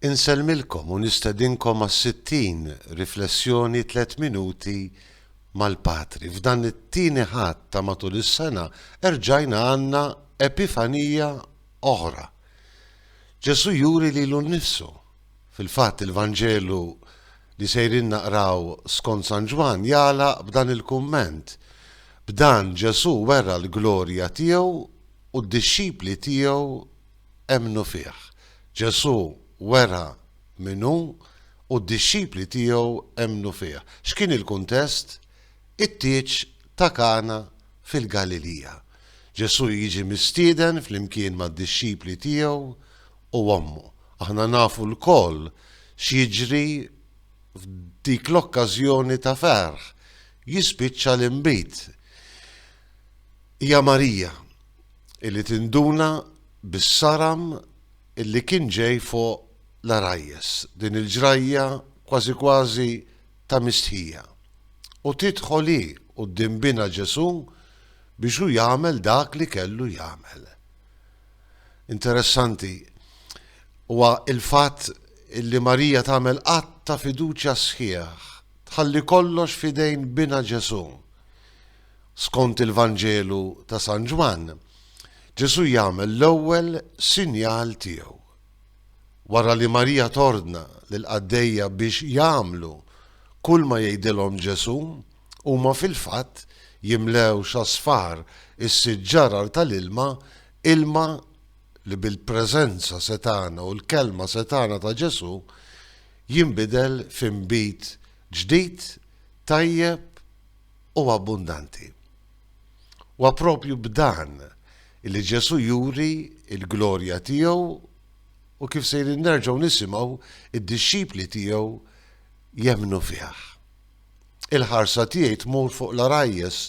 Insellmilkom u nistedinkom għas-sittin riflessjoni tliet minuti mal-Patri. F'dan it-tieni Ħadd ta' matul is-sena erġajna għandna epifanija oħra. Ġesù juri lilu nnifsu. Fil-fatt il-Vanġelu li sejrin naqraw skont San Ġwann jagħlaq b'dan il-kumment, B'dan Ġesù wera l-glorja tiegħu u d-dixxipli tiegħu emmnu fih. Ġesù wera min hu u d-dixxipli tiegħu emmnu fih. X'kien il-kuntest? It-tieġ ta' Kana fil-Galilija. Ġesù jiġi mistieden flimkien mad-dixxipli tiegħu u ommu. Aħna nafu lkoll x'jiġri f'dik l-okkażjoni ta' ferħ, jispiċċa l-inbid. Hija Marija. Illi tinduna bis-saram illi kien ġej fuq l-għarajjes din il-ġrajja kważi kważi ta' mistħija, u tidħol hi quddiem binha Ġesù biex hu jagħmel dak li kellu jagħmel. Interessanti huwa l-fatt illi Marija tagħmel att ta' fiduċja sħiħ, tħalli kollox f'idejn binha Ġesù. Skont il-Vanġelu ta' San Ġwann, Ġesù jagħmel l-ewwel sinjal tiegħu. Wara li Marija tordna lill-qaddejja biex jagħmlu kulma jgħidilhom Ġesù, huma fil-fatt jimlew x'asfar is-sitt ġarar tal-ilma, ilma li bil-preżenza setgħana u l-kelma setgħana ta' Ġesù jinbidel f'inbid ġdid, tajjeb, u abbundanti. Huwa proprju b'dan li Ġesù juri l-glorja tiegħu u kif sejrin nerġgħu nisimgħu d-dixxipli tiegħu jemmnu fih. Il-ħarsa tiegħi tmur fuq l-għarajjes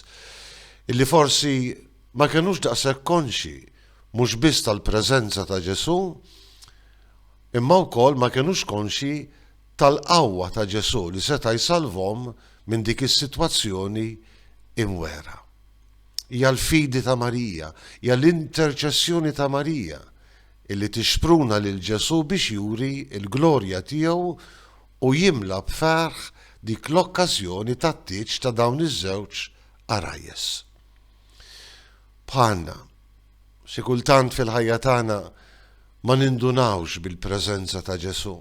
illi forsi ma kenux daqshekk konxi mhux biss tal-preżenza ta' Ġesù, imma wkoll ma kenux konxi tal-qawwa ta' Ġesù li seta' jsalvhom minn dik is-sitwazzjoni imwegħra. Hija l-fidi ta' Marija, hija l-interċessjoni ta' Marija li tixpruna lil Ġesù biex juri l-glorja tiegħu u jimla b'ferħ dik l-okkażjoni tat-tieġ ta' dawn iż-żewġ għarajjes. Bħalna, xi kultant fil-ħajja tagħna ma nindunawx bil-preżenza ta' Ġesù.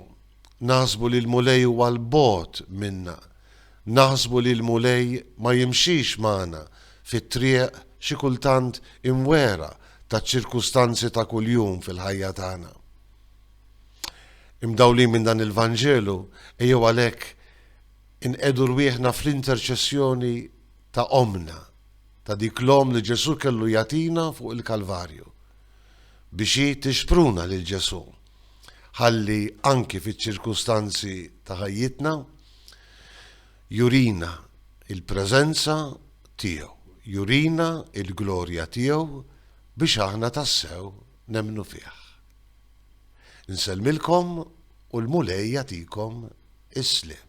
Naħsbu li l-Mulej huwa 'l bogħod minna. Naħsbu li l-Mulej ma jimxix magħna fit-triq xi kultant imwegħra taċ-ċirkustanzi ta' kuljum fil-ħajja tagħna. Imdawlin minn dan il-Vanġelu, ejjew għalhekk inqiegħdu rwieħna fl-interċessjoni ta' Ommna, ta' dik l-Omm li Ġesù kellu jagħtina fuq il-Kalvarju, biex hi tixpruna lil Ġesù. ħalli anki fiċ-ċirkustanzi ta' ħajjitna jurina l-preżenza tiegħu, jurina l-glorja tiegħu biex aħna tassew nemmnu fih. Insellmilkom u l-Mulej jagħtikom is-sliem.